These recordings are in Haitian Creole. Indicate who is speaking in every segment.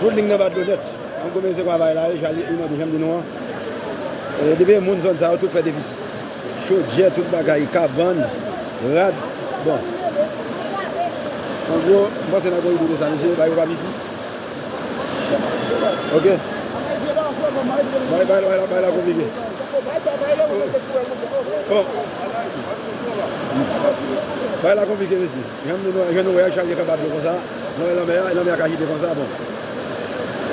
Speaker 1: Tout ling nan bat dlo nèt. An goumen se kwavay la ye jali iman di janm di nou an depi e moun zòn sa yo tout fè defisi chodyè tout bagay kabann rad bon an gwo m panse nan koribou se sa misye bay papa piti ok bagay la konplike bon bagay la konplike mesye. Jan nou jan nou wè a chal gen kaba dlo konsa nan men lanmè a e lanmè a k ajite konsa bon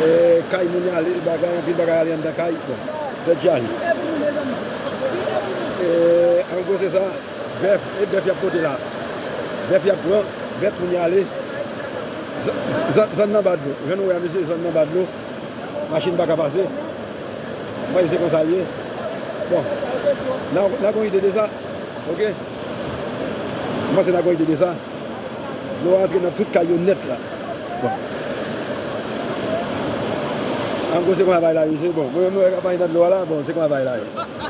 Speaker 1: e kay moun y ale bagay anpil bagay ale anndan kay bon tèt chaje e an gwo se sa bèf e bèf y ap pote la bèf y ap pran bèf moun y ale zòn zòn nan anba dlo jan nou wè a mesye zòn nan anba dlo machin pa ka pase m pa di se konsa l ye bon n a gon ide de sa ok. Mwen panse na gòj de desa. Dlo a antre nan tout kay yo nèt la. Bon. An gwo se konsa bagay la ye. Bon, mwen menm mwen wè kap manje nan dlo a la. Bon, se konsa bagay la ye.